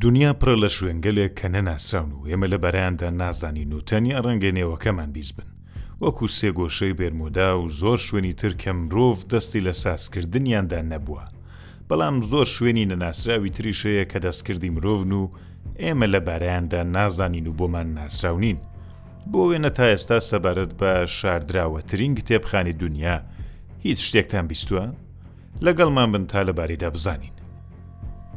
دونیا پڕە لە شوێنگەلێک کە نەناسراون و ئێمە لە بەرەیاندا نازانین و تەنیا ڕەنگە نێوەکەمان بیست بن وەکو سێگۆشەی بێرمودا و زۆر شوێنی تر کە مرۆڤ دەستی لە سازکردنیاندا نەبووە بەڵام زۆر شوێنی نەناسراوی تریشەیە کە دەستکردی مرۆڤن و ئێمە لە بارەیاندا نازانین و بۆمان ناسراونین بۆ وێنە تا ئێستا سەبارەت بە شاردراوەترین کتێبخانی دنیا هیچ شتێکتان بیستوە؟ لەگەڵمان بن تا لەبارەیدا بزانین.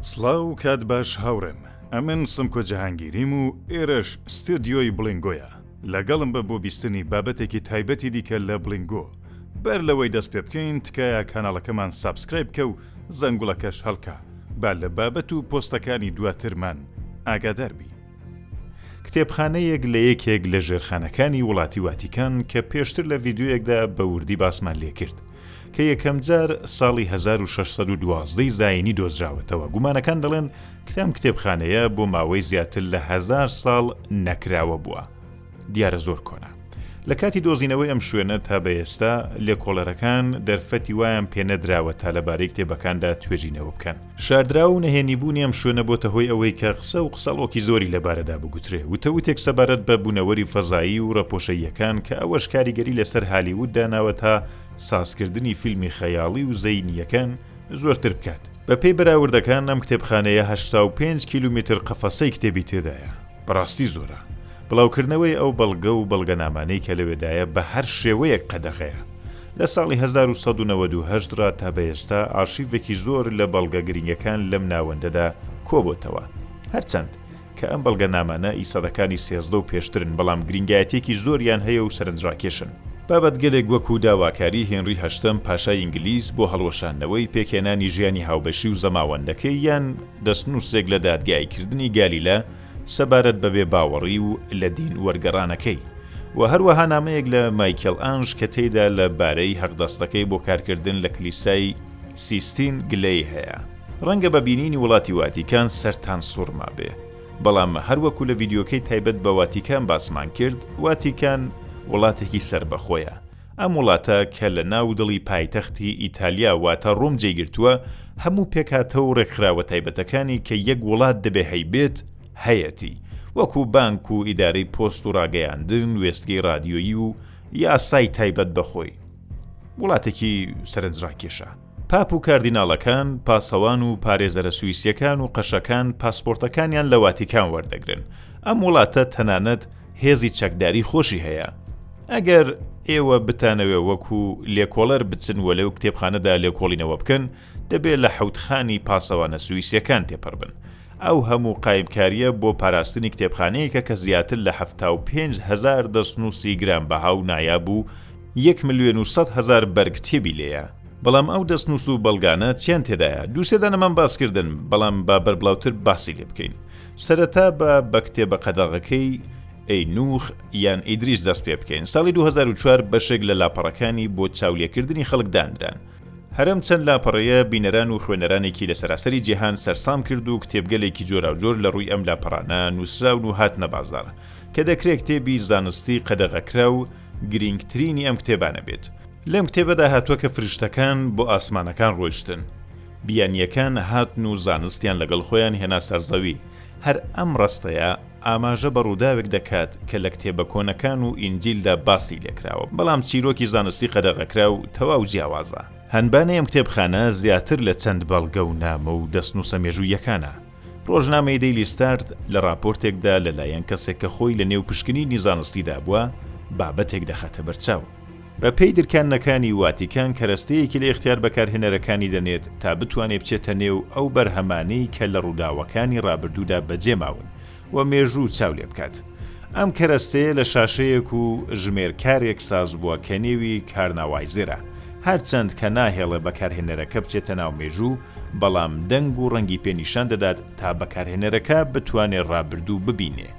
سڵاو کات باش هاوڕێم ئەمن سمکۆ جەهانگیریم و ئێرەش ستۆدیۆی بڵینگۆیە لەگەڵم بە بۆ بیستنی بابەتێکی تایبەتی دیکە لە بڵینگۆ بەر لەوەی دەست پێ بکەین تکایە کاناڵەکەمان سابسکرایب بکە و زەنگوڵەکەش هەڵکە با لە بابەت و پۆستەکانی دواترمان ئاگادار بی. کتێبخانەیەک لە یەکێک لە ژێرخانەکانی وڵاتی واتیکان کە پێشتر لە ڤیدیۆیەکدا بە وردی باسمان لێکرد کە یەکەمجار ساڵی هەزار و شەش سەد و دوازدە ی زایینی دۆزراوەتەوە، گومانەکان دەڵێن کە ئەم کتێبخانەیە بۆ ماوەی زیاتر لە هەزار ساڵ نەکراوە بووە، دیارە زۆر کۆنە. لە کاتی دۆزینەوەی ئەم شوێنە تا بە ئێستا، لێکۆڵەرەکان دەرفەتی وایان پێنەدراوە تا لەبارەی کتێبەکاندا توێژینەوە بکەن. شاردراو و نەهێنیبوونی ئەم شوێنە بۆتە هۆی ئەوەی کە قسە و قسەڵۆکی زۆری لەبارەدا بگوترێ، وتەوتێک سەبارەت بە بوونەوەری فەزایی و ڕەپۆشەییەکان کە ئەوەش کاریگەری لەسەر هالیوود داناوە تا سازکردنی فیلمی خەیاڵی و زەینییەکان زۆرتر بکات. بەپێی بەراوردەکان ئەم کتێبخانەیە هەشتا و پێنج کیلومیتر قەفەسەی کتێبی تێدایە. بەڕاستی زۆرە. بڵاوکردنەوەی ئەو بەڵگە و بەڵگەنامانەی کە لەوێدایە بە هەر شێوەیەک قەدەغەیە. لە ساڵی هەزار و سەد و نەوەد و هەشت ڕا تا بە ئێستا ئاڕشیڤێکی زۆر لە بەڵگە گرینگەکان لەم ناوەندەدا کۆبۆتەوە. هەرچەند کە ئەم بەڵگەنامانە ئی سەدەکانی سێزدە و پێشترن بەڵام گرینگایەتیەکی زۆریان هەیە و سەرنجڕاکێشن. بابەتگەلێک وەکوو داواکاری هێنری هەشتەم پاشای ئینگلیز بۆ هەڵوەشاندنەوەی پێکهێنانی ژیانی هاوبەشی و زەماوەندەکەی یان، دەستنووسێک لە دادگاییکردنی گالیلە سەبارەت بە بێباوەڕی و لە دین وەرگەڕانەکەی و هەروەها نامەیەک لە مایکێڵئانژ کە تێیدا لە بارەی هەقدەستەکەی بۆ کارکردن لە کلیسای سیستین گلەی هەیە. ڕەنگە بە بینینی وڵاتی واتیکان سەرتان سوڕمابێ، بەڵام هەر وەکو لە ڤیدیۆکەی تایبەت بە واتیکان باسمان کرد، واتیکان وڵاتێکی سەربەخۆیە، ئەم وڵاتە کە لە ناو دڵی پایتەختی ئیتالیا واتە ڕۆم جێی گرتووە، هەموو پێکهاتە و ڕێکخراوە تایبەتەکانی کە یەک وڵات دەبێ هەیبێت، هەیەتی، وەکوو بانک و ئیدارەی پۆست و ڕاگەیاندن، وێستگەی ڕادیۆیی و یاسای تایبەت بە خۆی. وڵاتێکی سەرنجڕاکێشە. پاپ و کاردیناڵەکان، پاسەوان و پارێزەرە سویسییەکان و قەشەکان پاسپۆرتەکانیان لە واتیکان وەردەگرن. ئەم وڵاتە تەنانەت هێزی چەکداری خۆشی هەیە. ئەگەر ئێوە بتانەوێ وەکو لێکۆڵەر بچن و لەو کتێبخانەدا لێکۆڵینەوە بکەن، دەبێ لە حەوتخانی پاسەوانە سویسییەکان تێپەڕبن. ئەو هەموو قایمکارییە بۆ پاراستنی کتێبخانەیەکە کە زیاتر لە حەفتا و پێنج هەزار دەستنووسی گرانبەها و نایاب و یەک ملیۆن و سەد هەزار بەرگ کتێبی لێیە، بەڵام ئەو دەستنووس و بەڵگانە چیان تێدایە؟ دوو سێ دانەمان باس کردن، بەڵام با بەربڵاوتر باسی لێ بکەین. سەرەتا با بە کتێبە قەدەغەکەی، ئەینووخ، یان ئیدریس دەست پێ بکەین. ساڵی دوو هەزار و چوار بەشێک لە لاپەڕەکانی بۆ چاولێکردنی خەڵک دانران. هەرەم چەند لاپەڕەیە بینەران و خوێنەرانێکی لە سەراسەری جیهان سەرسام کرد و کتێبگەلێکی جۆراوجۆر لە ڕووی ئەم لاپەڕانە نووسراون و هاتنە بازاڕ کە دەکرێت کتێبی زانستی قەدەغەکرا و گرینگترینی ئەم کتێبانە بێت لەم کتێبەدا هاتووە کە فریشتەکان بۆ ئاسمانەکان ڕۆیشتن بیانییەکان هاتن و زانستیان لەگەڵ خۆیان هێنا سەرزەوی هەر ئەم ڕەستەیە ئاماژە بە ڕووداوێک دەکات کە لە کتێبە کۆنەکان و ئینجیلدا باسی لێکراوە، بەڵام چیرۆکی زانستی قەدەغەکراو تەواو جیاوازە. هەنبانەی ئەم کتێبخانە زیاتر لە چەند بەڵگە و نامە و دەستنووسە مێژووییەکانە. ڕۆژنامەی دەیلی ستارت لە ڕاپۆرتێکدا لەلایەن کەسێک کە خۆی لەنێو پشکنینی زانستیدا بووە، بابەتێک دەخاتە بەرچاو. بە پێی درکاندنەکانی واتیکان کەرەستەیەکی لە ئیختیار بەکارهێنەرەکانی دەنێت تا بتوانێت بچێتە نێو ئەو بەرهەمانەی کە لە ڕووداوەکانی ڕابردوودا بەجێ ماون و مێژوو چاو لێ بکات. ئەم کەرەستەیە لە شاشەیەک و ژمێرکارێک ساز بووە کە نێوی کارناوایزێرە، هەرچەند کە ناهێڵێ بەکارهێنەرەکە بچێتە ناو مێژوو، بەڵام دەنگ و ڕەنگی پێ نیشان دەدات تا بەکارهێنەرەکە بتوانێ ڕابردوو ببینێ.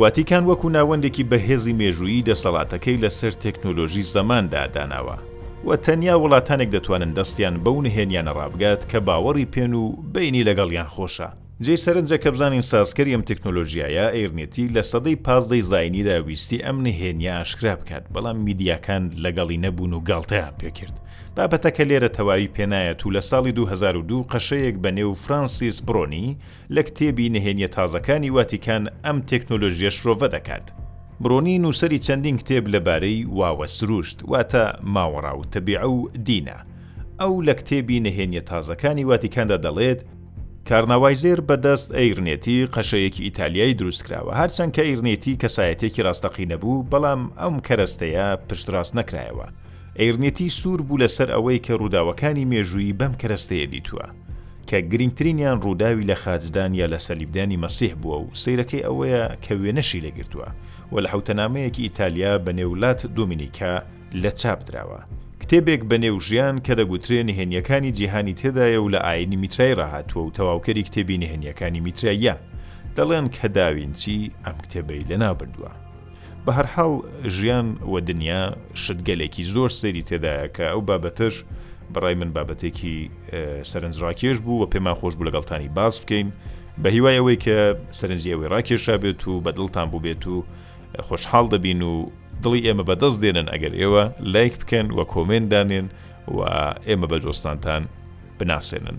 ڤاتیکان وەکو ناوەندێکی بەهێزی مێژوویی دەسەڵاتەکەی لەسەر تەکنۆلۆژی زەماندا داناوە و تەنیا وڵاتانێک دەتوانن دەستیان بەو نهێنیانە ڕابگات کە باوەڕی پێن و بەینی لەگەڵیان خۆشە. جێی سەرنجە کە بزانین سازکەری ئەم تەکنۆلۆژیایە، ئێرنێتی، لە سەدەی پازدەی زاینیدا ویستی ئەم نهێنیە ئاشکرا بکات، بەڵام میدیاکان لەگەڵی نەبوون و گاڵتەیان پێکرد. بابەتەکە لێرە تەواوی پێنایەت و لە ساڵی دوو هەزار و دوو قەشەیەک بە نێو فرانسیس برۆنی، لە کتێبی نهێنیە تازەکانی واتیکان ئەم تێکنۆلۆژیە شرۆڤە دەکات. برۆنی نووسەری چەندین کتێب لە بارەی واوە سروشت واتە ماوەڕا و تەبیعە و دینە. ئەو لە کتێبی نهێنیە تازەکانی واتیکاندا دەڵێت، کارناوایزێر بە دەست ئەیرنێتی قەشەیەکی ئیتالیایی دروست کراوە، هەرچەند کە ئەیرنێتی کەسایەتێکی ڕاستەقینە بوو، بەڵام ئەم کەرەستەیە پشتڕاست نەکرایەوە. ئەیرنێتی سوور بوو لەسەر ئەوەی کە ڕووداوەکانی مێژوویی بەم کەرەستەیە دیتووە. کە گرینگترینیان ڕووداوی لە خاچدان یا لە سەلیبدانی مەسیح بووە و سەیرەکەی ئەوەیە کە وێنەشی لێ گرتووە و لە حەوتەنامەیەکی ئیتالیا بە نێو لات دۆمینیکا لە چاپ دراوە کتێبێک بە نێو ژیان کە دەگوترێ نهێنیەکانی جیهانی تێدایە و لە ئاینی میترای ڕاهاتووە و تەواوکەری کتێبی نهێنیەکانی میتراییە دەڵێن کە داوینچی ئەم کتێبەی لەناو بردووە. بەهەرحاڵ ژیان و دنیا شتگەلێکی زۆر سەیری تێدایە کە ئەو بابەتەش بەڕای من بابەتێکی سەرنج ڕاکێش بوو و پێمان خۆش بوو لەگەڵتانی باس بکەین بە هیوای ئەوەی کە سەرنجی ئەوەی ڕاکێشا بێت و بە دڵتان بوو بێت و خۆشحاڵ دەبین و دڵی ئێمە بەدەست دێنن ئەگەر ئێوە لایک بکەن و کۆمێن دانێن و ئێمە بە دۆستانتان بناسێنن